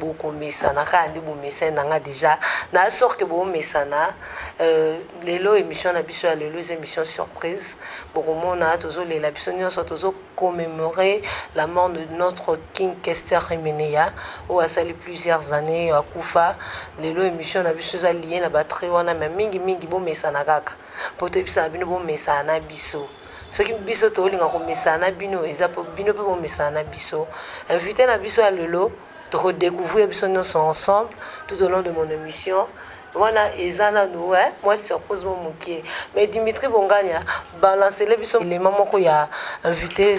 bokomesana kaka nde bomesani na nga deja na sor ke bomesana euh, lelo émission na biso ya lelo eza émission surprise bokomona tozolela biso nyonso tozo commémorer la mort de notre king kester emeneya oyo asali plusieurs années akufa lelo émission na biso eza liye na batrie wana me mingi mingi bomesana kaka mpo toyebisaka bino bomesana na biso soki biso tokolinga komesana na bino eza mpo bino mpe bomesana na biso invité na biso ya lelo tokodecouvrir biso nyonso ensemble tout au long de mon émission wana eza nanu eh, mwa surprise mo moke mais dimitri bongania balancele biso elema moko ya invité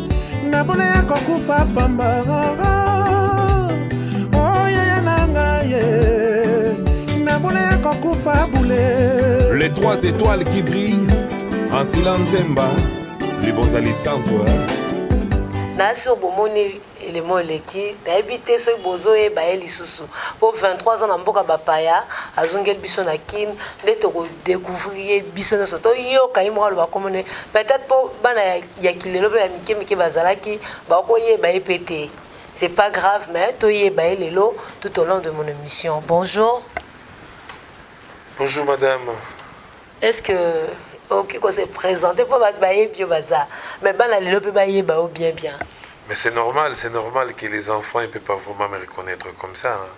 na bole ya kokufa pamba Les trois étoiles qui brillent en silence zemba les bons alisanto na sur bomoni elemo eleki nayebi te soki bozoyeba ye lisusu mpo 23 ans na mboka bapaya azongeli biso na kin nde tokodécouvrir ye biso nyonso toyoka ye moko aloba komone peut-être mpo bana ya ya kilelo mpe ya mike mike bazalaki bakoyeba ye mpe te c'est pas grave mais toyeba ye lelo tout au long de mon émission bonjour bonjour madame est ce que okoki ko se présenter mpo bato bayebi yo baza mais bana lelo mpe bayeba yo bien bien mais c'est normal c'est normal que les enfants ne peut pas vraiment me reconnaître comme ça hein.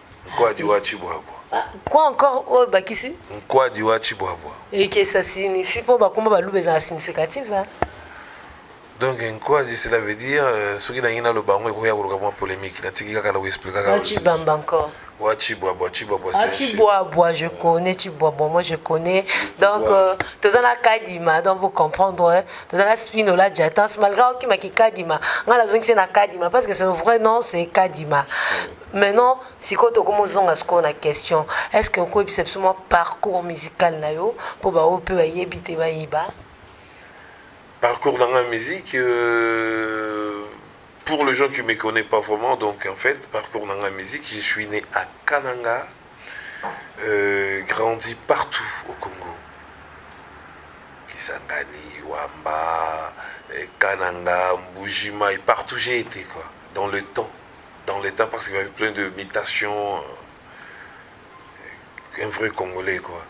Nkwadi wa Chibwabwa. Ah, quoi encore oyo oh, bakisi? Nkwadi wa Chibwabwa. Et que ça signifie po bakoma baluba ezala significatif hein? donc nkwadi cela veut dire euh, soki nangi naloba yango ekoya koluka mwa polémique natiki kaka na koexplikaka wachibamba encore Ouais, Chibwabwa, Chibwabwa, ah, Chibwabwa, je connais Chibwabwa, moi je connais. Donc, euh, tu as la Kadima, donc vous comprendre, hein. tu as la Spinola Jatans, malgré qui m'a dit Kadima, moi la zone c'est la Kadima, parce que son vrai nom c'est Kadima. Maintenant, sikoyo tokomozonga sikoyo na question. Est-ce que okoyebisa biso mwa parcours musical na yo mpo baoyo mpe bayebi te bayeba? Parcours dans la musique, euh, pour les gens qui ne me connaissent pas vraiment, donc en fait, parcours dans la musique, je suis né à Kananga, euh, grandi partout au Congo. Kisangani, Wamba, euh, Kananga, Mbujima, et partout j'ai été, quoi, dans le temps. dans l'etat parce qu'il y avait plein de mutations euh, un vrai congolais quoi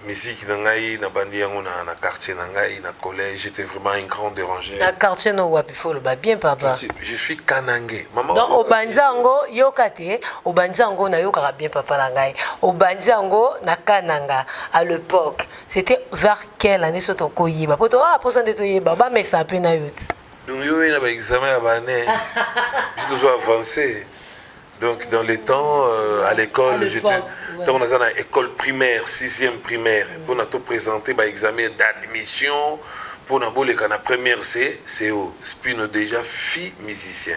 musique na ngai nabandi yango na, na quartier na ngai na collège j'étais vraiment un grand dérangé na quartier no wapi fo oloba bien papa je suis kanange maman donc obandi yango yoka te obandi yango nayokaka bien papa na ngai obandi yango na kananga à l'époque c'était vers quelle année so tokoyeba po to ah posa nde toyeba bamesa mpe na yo te Donc yo na ba examen ya ba année biso tozo avancer donc dans les temps euh, à l'école j'étais ntango naza na école primaire sixième primaire mpo na to présenter ba examen d'admission mpo na boleka na première c co spino déjà fille musicien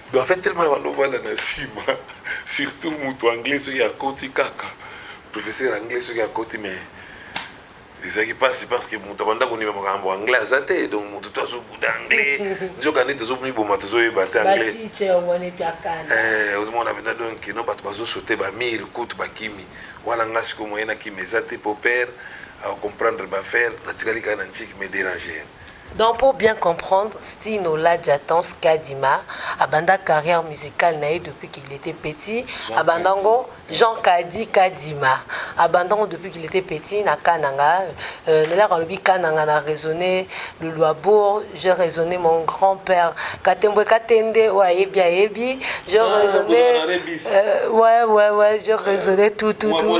Donc en fait tellement na bando vanda na sima surtout mutu anglais soki akoti kaka professeur anglais soki akoti mais ezalaki mpasi parce que moto abanda kondima makambo anglais aza te donc moto to azobuda anglais nzoka nde tozomiboma tozoyeba te anglaiozomona eh, mpenza donc no bato bazosote bamire kutu bakimi wana nga siko moye na kimi eza te po père acomprendre bafaire natikali kaka na ntiki me déranger Donc pour bien comprendre, Stino Ladjatans Kadima abanda carrière musicale naye depuis qu'il était petit, abandango Jean Kadi Kadima, abandango depuis qu'il était petit na Kananga, euh, nelaka alobi Kananga na raisonné le Luabourg, j'ai raisonné mon grand-père Katembwe Katende, ouais ayebi ayebi, j'ai raisonné, euh, ouais ouais ouais, j'ai raisonné tout tout tout.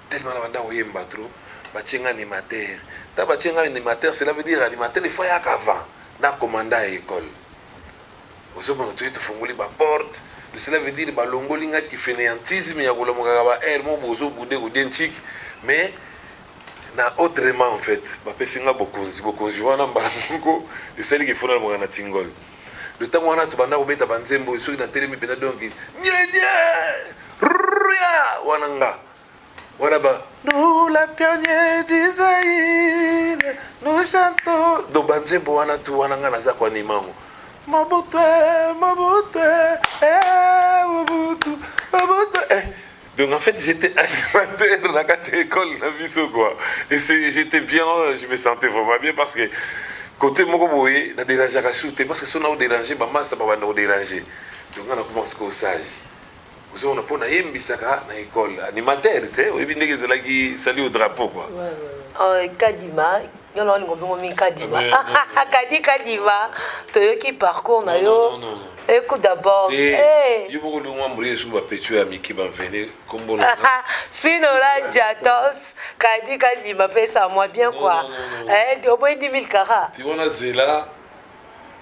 Tellement na banda koyemba trop batie nga animateur ta batie nga animateur cela veut dire animateur il faut ayaka avant na commanda ya ekole ozomona toye tofungoli baporte cela veut dire balongoli nga kifeneantisme ya kolamukaka ba aire mo bozo bude kodie nciki mais na autrement en fait bapesi nga bokonzi bokonzi wana mbala moko esali kifuna lamuka na tingol le ntango wana tobanda kobeta banzembo soki natelemi mpenza donki nyedie ria wana nga wana ba nous la pionnier du Zaïre nous chantons donc banzembo wana tu wana ngai naza koanima yango Mobutu Mobutu eh Mobutu Mobutu eh donc en fait j'étais animateur na kati école na biso quoi et c'est j'étais bien je me sentais vraiment bien parce que côté moko boye na dérangeaka surtout parce que soki na odérange bamasta babanda kodérange donc ngai nakoma sikoyo sage ozo mona mpo nayembisaka na ekole animateur te oyebi ndenge ezalaki sali au drapeau kua euh, kadima yo na olingo bongo mi kadima kadi kadima toyoki parcours na yo écoute d'abord eh. yo moko olingwa mbula esu bapetio ya miki bamvene kombona spinola jatos kadi kadima pesa mwa bien kua oboyi 2000 kara ti wana zela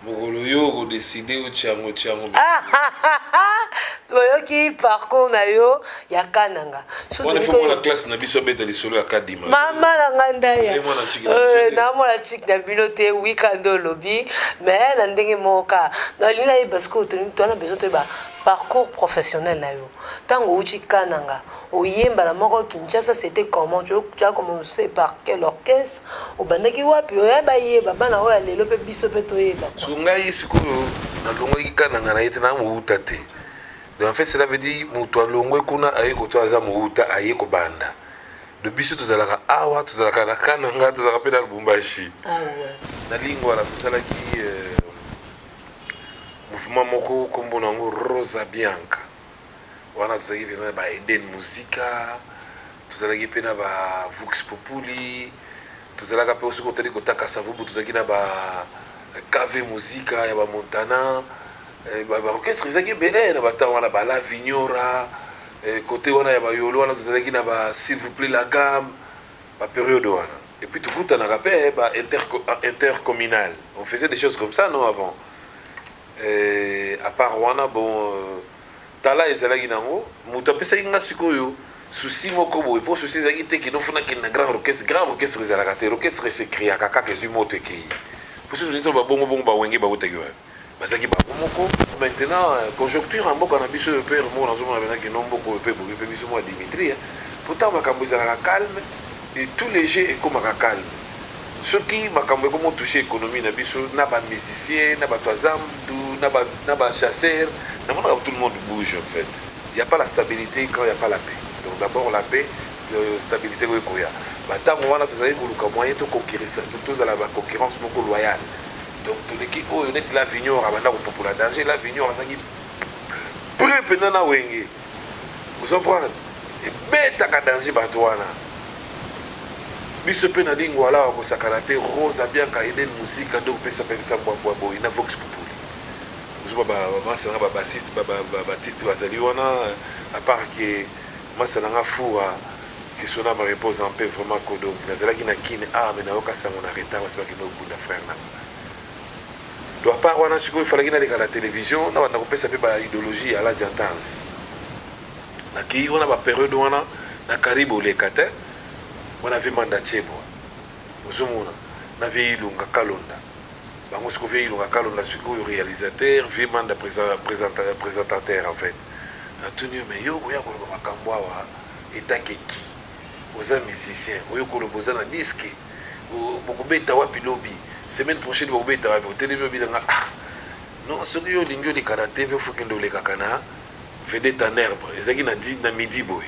Mokolo yo oko decide yo tiango tiango. Oyoki parcours na yo ya kananga. Wana faut mwana classe na biso abeta lisolo ya kadima. Mama na ngai ndaya. Euh, na mwana chik na bino te weekend olobi mais na ndenge moko ka. Na lina yeba sikoyo toni twana besoin toyeba parcours professionnel na yo. Tango outi kananga oyemba na moko Kinshasa c'était comment tu as commencé par quel orchestre obandaki wapi oya bayeba bana oyo ya lelo mpe biso mpe toyeba so ngai sikoyo nalongwaki kananga na ye te na mowuta te donc en fait cela veut dire moto alongwe kuna aye koto aza mowuta aye kobanda do biso tozalaka awa tozalaka na kananga tozalaka mpe na lubumbashi ah na lingwala tosalaki euh, mouvement moko nkombo na yango rosa bianca Wana tozalaki mpenza na ba Eden Musica, tozalaki mpe na ba Vox Populi, tozalaka mpe soki otali kota Kasavubu tozalaki na ba KV Musica ya ba Montana, eh, ba orchestre ezalaki ebele na batemps wana ba La Vignora, kote eh, wana ya bayolo wana tozalaki na ba s'il vous plaît la gamme ba periode wana et puis tokutanaka mpe ba intercommunal on faisait des choses comme ça non avant Eh a part wana bon talent ezalaki nango mutu apesaki nga sikoyo souci moko boye po souci ezalaki te kino funa kende na grand orchestre grand orchestre ezalaka te orchestre se creaka kaka ezwi moto ekeyi po soki tozali ba bongo bongo ba wenge bawutaki wapi bazalaki bango moko maintenant euh, conjoncture ya mboka na biso oyo pe remoko nazomona pena kino mboka oyo pe ebomi pe biso mwa dimitri po ntango makambo ezalaka calme De tout les jeux ekomaka calme soki makambo eko mo touche economie na biso na ba musiciens na batu ya zamdu na ba na ba chasseurs na monaka tout le monde bouge en fait il ya pas la stabilite quand il ya pas la paix donc d'abord la paix stabilite oyo ekoya ba tango wana tozalaki koluka moyen to conquerissa tozala ba concurrence moko loyale donc toleki oyo neti la vignon abanda kopupola danger la vignon azalaki près mpenza na wenge Vous comprenez? Ebetaka danze bato wana. Biso pe na lingwala awa kosakana te. Rose abianka Eden Muzika nde opesa pesa mbwa mbwa boye na Vox Populi. Ozoba ba masa na ba bassiste ba ba batiste bazali wana à part que masa na nga fura que son âme repose en paix vraiment kodo nazalaki na kin ah mais nayoka sango na retard basibaki no kunda frère na nga. do apart wana sikoyo falaki naleka na television na banda kopesa mpe ba idologie ya la jantans nakei wana baperiode wana na karibe oleka te wana vie manda chebwa ozomona na vie ilunga kalonda bango siko vie ilunga kalonda sikoyo réalisateur vie manda présentateur en fait natuni yo me yo okoya koloba makambo awa etake ki oza musicien oyo koloba oza na diske Bokobeta wapi lobi? Semaine prochaine bokobeta wapi? Otelemi obina nga ah non soki yo olingi oleka na TV faut kende olekaka na vedette en herbe ezalaki na di na midi boye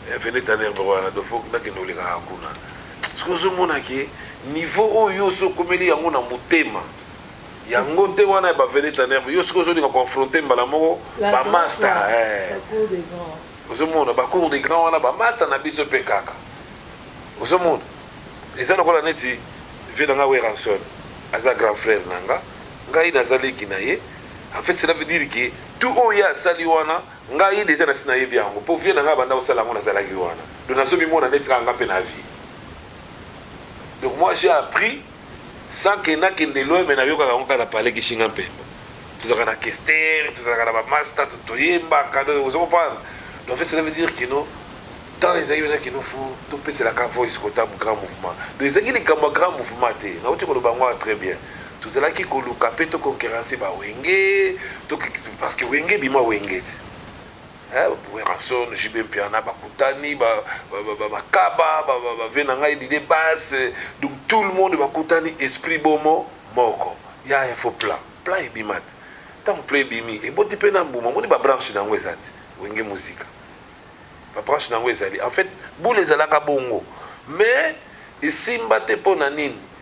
eh, vedette en herbe wana donc faut nakende olekaka kuna soki ozomona ke niveau oyo oso okomeli yango na motema yango te wana ya bavedette en herbe yo soki ozolinga confronte mbala moko bamasta eh. Ozo mona ba cours de grand wana ba masta na biso pe kaka ozo mona eza lokola neti vie na nga Werrason aza grand frère na nga ngai naza leki na ye en fait cela veut dire que tout oyo ye asali wana ngai deja nasi nayebi yango mpo vie na ngai abanda kosala yango nazalaki wana donc nazomimona neti kaka nga mpe na vie donc moi j'ai appris sans que na kende loin mais na yokaka yango kaka na palais kishinga mpemba tozalaka na kester tozalaka na bamasta toyembaka ozo comprendre donc fait cela veut dire que non temps ezalaki mpena kino fo topeselaka voice kota grand mouvement donc ezalaki likambo ya grand mouvement te nauti koloba yango wana très bien tozalaki koluka mpe toconquerance bawenge parce que wenge bima wenge te Werrason, JB Mpiana bakutani, ba, ba, ba, ba makaba, ba, ba, ba vena ngai dide base, donc tout le monde bakutani esprit bomo moko. Ya ya faut plan. Plan ebima te. Tant plan ebimi, eboti pe na mbuma, moni ba branche na yango eza te. Wenge muzika. Ba branche na yango ezali. En fait, boule ezalaka bongo. Mais esimba te pona nini?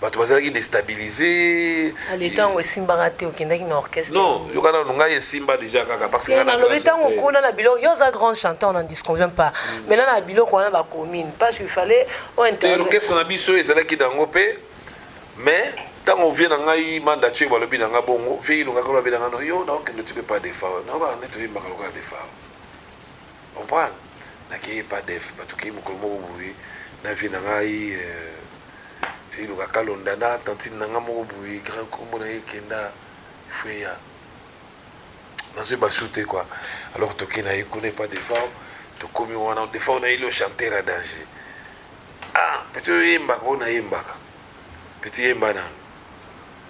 bato bazalaki destabilise ale ntango esimbaka te okendaki na orchestre non yoka nano ngai esimba déjà kaka parce que nalobi ntango kuna na biloko yo oza grand chanteur na disconvient pas mm. maintenant na biloko wana bacommune parce qu'il fallait orchestre na biso ezalaki nango mpe mais ntango vie na ngai manda tio balobi na ngai bongo vie ilongaka lobi na ngai no yo naokende otipe pas defa naokaa nde toyembaka lokola defa comprendre nakeyi epa def batu keyi mokolo moko boye na vie na ngai euh, iloka kalonda na tantine na ngai moko boye grand kombo na ye ekenda freya nazwi basu te quoi alors toke na ye kuna epa defao tokomi wana defao na yeli ochanter ya danger ah peti oyembaka oyo nayembaka peti yemba nano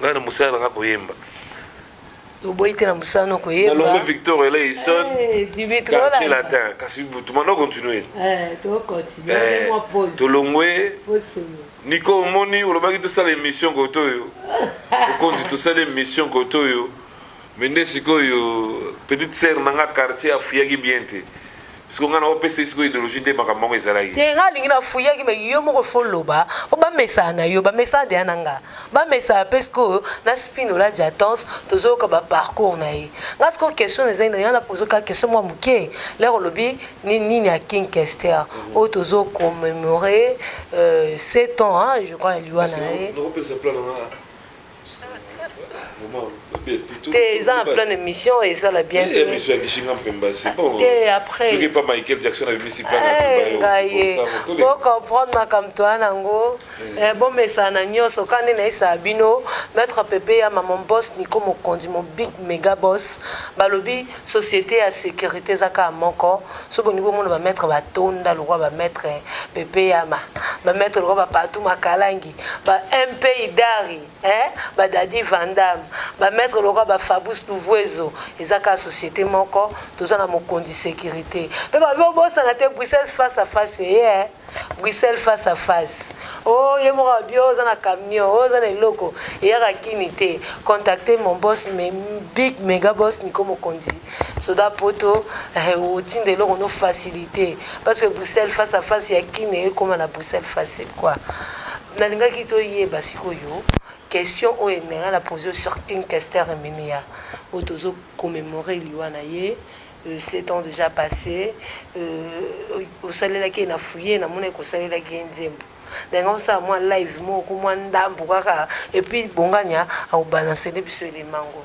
ngai na mosala nanga koyemba oboyi te na mosala na koyemba nalongo victor eleison quartier latin kasi tumana continue tolongwe niko omoni olobaki tosala émission koto oyo okonzi tosala émission koto oyo Mais nde sikoyo petite sœur na nga quartier afuyaki bien te siko nga na opesa ye sikoyo ideologie nde makambo yango ezalaki te nga alingi na fuyaki me yo moko fo loba po bamesana na yo bamesana deya na nga bamesana mpe sikoyo na spinola jatance tozoyoka baparcours na ye nga sikoyo question na ezali na nga na pozo kaka question mwa moke lere olobi ni- nini ya king kester oyo tozo commémore euh, 7 ans hein, je crois ya liwa na ye nakopelisa plan na nga te eza na plein émission eza la bien te émission ya kishinga mpemba c'est bon te après soki pa Michael Jackson abimisi plan na eh, ngai bo comprendre makambo toya nango hmm. eh, bomesana na nyonso kaka nde nayesaka bino maître pepe ya maman boss niko mokonzi mon big mega boss balobi société ya sécurité eza kaka moko soki olingi bomona bamaître batonda lokola bamaître pepe yama bamaître lokola bapatou makalangi ba MP Idari hein ba Dadi Vandam ba maître loka ba Fabrice Louvuezo eza ka société moko toza na mokonzi sécurité pe ba bosa na te Bruxelles face à face ye eh, hein eh. Bruxelles face à face oh ye moko bio oza na camion oh, oza na eloko eyaka kini te contacter mon boss mais big mega boss niko mokonzi soda poto eh, otinda eloko no facilité parce que bruxelles face à face ya kine ekoma na bruxelles facile quoi nalingaki toyeba sikoyo question oyo elinga na pose sur king kester eminia oyo tozo commémore liwa na ye euh, sept ans déjà passé euh, osalelaki ye na fouye namonaki kosalelaki ye nzembo ndenge osala mwa live moko mwa ndambo kaka epuis bongania akobalanse nde biso elemango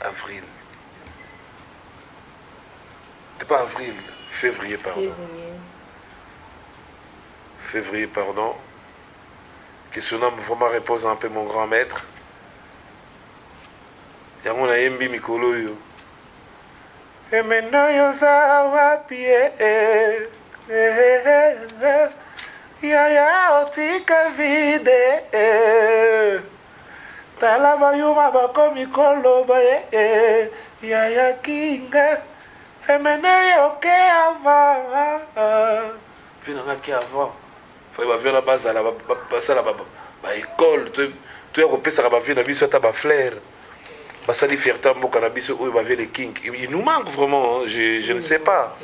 Avril. C'est pas avril, février, pardon. Février. Février, pardon. Que son âme vraiment repose en paix, mon grand maître. yango nayembi mikolo oyo emena yo oza wapi yaya otika vide Tala ba yuma bakomi koloba eh eh yaya king eh emene yo ke avant vie na nga ke avant fai ba vie na bazala basala ba ba école to to ya kopesaka ba vie na biso ata ba flair basali fierté mboka na biso oyo ba vie le king il nous manque vraiment je je ne sais pas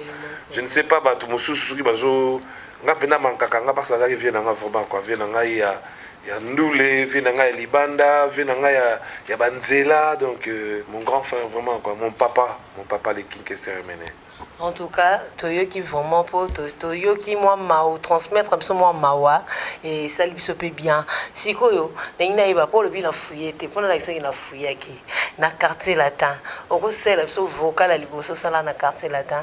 je ne sais pas bato mosusu soki bazo nga mpe na mankaka nga mpasi azalaki vie na nga vraiment quoi vie na ngai ya ya ndule vie na ngai ya libanda vie na ngai ya, ya banzela donc euh, mon grand frère vraiment quoi mon papa mon papa le king kester emene en tout cas toyoki vraiment mpo toyoki mwa mao transmettre biso mwa mawa esali biso mpe bien sikoyo ndenge nayeba mpo olobi na fouye te mpo nalaki soki na fouyaki na quartier latin okosalela biso vocal ya liboso osala na quartier latin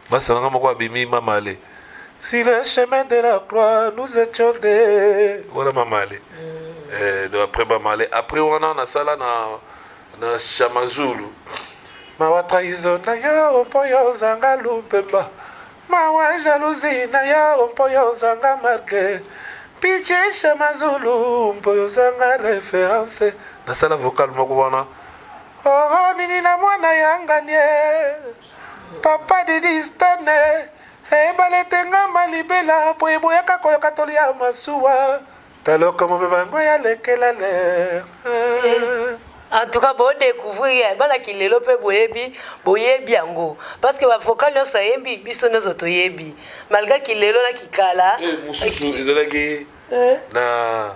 Masta nanga moko abimi mamale si le chemin de la croix nous étions des voilà mamale mm. eh, donc après mamale après wana nasala na na chamazulu mawa trahison na yo mpo yo ozanga lumpemba mawa jalousie na yo mpo yo ozanga marke piche chamazulu mpo yo ozanga référence nasala vocal moko wana oho nini na mwana yanganie Papa Didi Stane, ebale etengama libela mpo eboyaka koyoka toli ya masuwa ta lokomo mpe bango ya lekela ler eh, en tout cas bodecouvrir ya bana kilelo mpe boyebi boyebi yango parce que bavocal nyonso ayembi biso nyonso toyebi malgré kilelo na kikala eh, mosusu ezalaki eh. na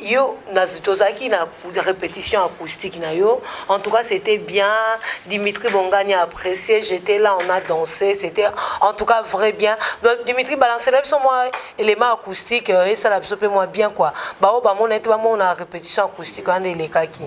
yo nazi tozalaki na répétition acoustique na yo en tout cas c'était bien dimitri bongani a apprécié j'étais là on a dansé c'était en tout cas vrai bien donc dimitri balancela biso mwa élément acoustique esala biso mpe mwa bien quoi baoyo bamona ete bamona répétition acoustique wana elekaki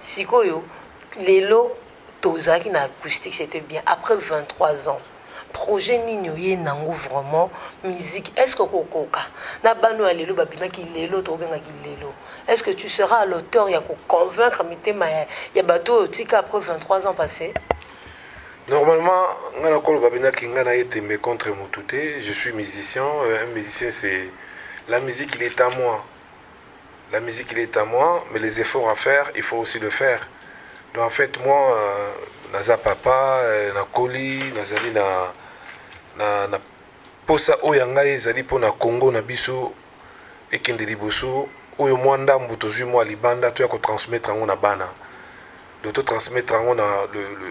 Sikoyo lelo tozalaki na acoustique c'était bien après 23 ans projet nini oye nango vraiment musique est ce que okokoka na bano ya lelo babimaki lelo tokobengaki lelo est ce que tu seras à l'auteur ya koconvaincre mitema ya, ya bato oyo otika après 23 ans passé normalement nga nakoloba bendaki nga naye tembe contre motu te je suis musicien euh, un musicien c'est la musique il est à moi la musique il est à moi mais les efforts à faire il faut aussi le faire donc en fait moi euh, naza papa euh, nakoli nazali na, na, na posa oyo ya ngai ezali mpo na congo na biso ekende liboso oyo mwa ndambo tozwi mwa libanda toya kotransmettre yango na bana do totransmettre yango na le, le,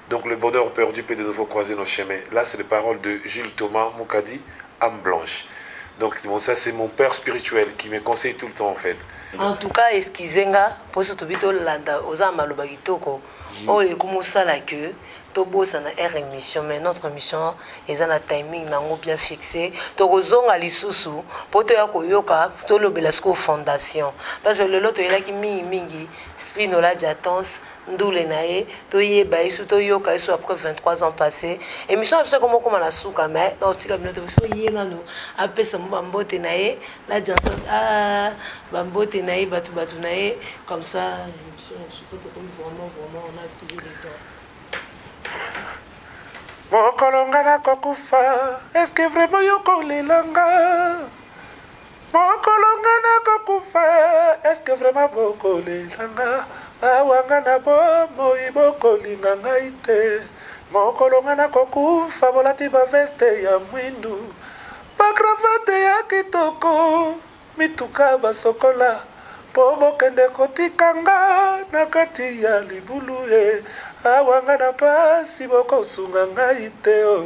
Donc le bonheur perdu peut de nouveau croiser nos chemins là c'est les paroles de Jules Thomas Mukadi ame blanche donc bon ça c'est mon père spirituel qui me conseille tout le temps en fait en tout cas excusez nga mpo so tobi tolanda oza na maloba kitoko oyo oh, ekomi osala ke tobosana heure émission mais notre émission eza na timing nango bien fixé tokozonga lisusu mpo toya koyoka tolobela sikoyo fondation parce que lelo toyelaki mingimingi spinola jatons ndule na ye toyeba ye soki toyoka ye so après 23 ans passé émission na biso ekoma okoma na suka mais naotika bino te biso ye nano apesa mo bambote na ye la janson ah, bambote na ye bato bato na ye comme ça émission na biso po tokomi vraiment vraiment on a toujours le temps mokolo nga nakokufa eske vraiment yokolelanga Mokolo nga nakokufa eske vraiment bokolela nga awa nga na bomoi bokolinga ngai te mokolo nga nakokufa bolati baveste ya mwindu bakravate ya kitoko mituka basokola mpo bokende kotika nga na kati ya libulu e awa nga na mpasi bokosunga ngai te o oh.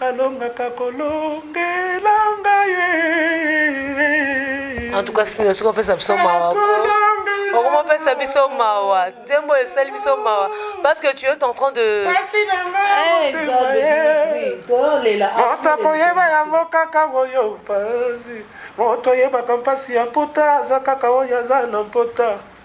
Alongaka kolongela ngai eh. En tout cas, Spino, soki opesa biso mawa okomopesa biso mawa nzembo esali biso mawa parce que tu es en train de moto akoyeba yango kaka oyo mpasi moto oyebaka mpasi ya mpota aza kaka oyo aza na mpota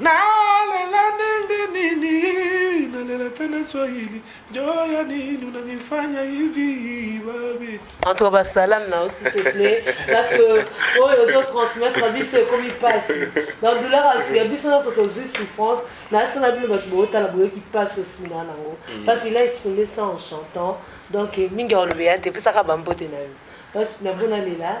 Nalela ndenge nini nalela tena swahili joya nini unanifanya hivi babi en tout cas basalam na yo s'il te plaît parce que oyo ozo transmettre na biso ekomi mpasi na douleur ya biso nyonso tozwi souffrance na se na bino bato bootala boyoki mpasi osimi na nango mm. parce qu'il a exprimé ça en chantant donc mingi olobeya te pesaka bambote na yo parce que na mpo nalela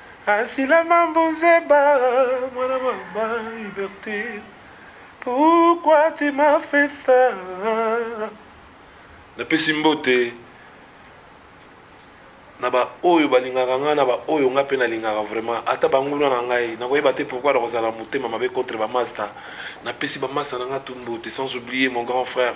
Asila mambu nzeba mwana mama Ibertine pourquoi tu m'as fait ça Napesi mbote na ba oyo balingaka ngai na ba oyo ngai mpe nalingaka vraiment ata banguna na ngai nakoyeba te pourquoi nakozala motema mabe contre bamasta napesi bamasta na ngai tumbote sans oublier mon grand frère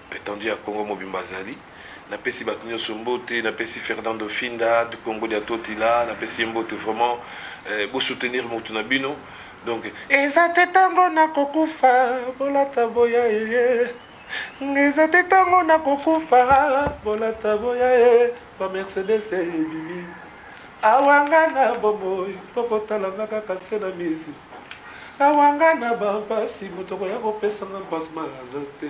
Etendue ya Congo mobimba azali. Napesi bato nyonso mbote, napesi Fernando Finda, Dukongo dia Totila, napesi ye mbote vraiment. Eh, bo soutenir moto na bino. Donc, eza te tango na kokufa, bolata boya ye. Eza te tango na kokufa, bolata boya ye. Ba Mercedes ebimi. Awanga na bomoi, kokotala nga kaka se na mizu. Awanga na bampasi, moto koya kopesa nga mpasi maza te.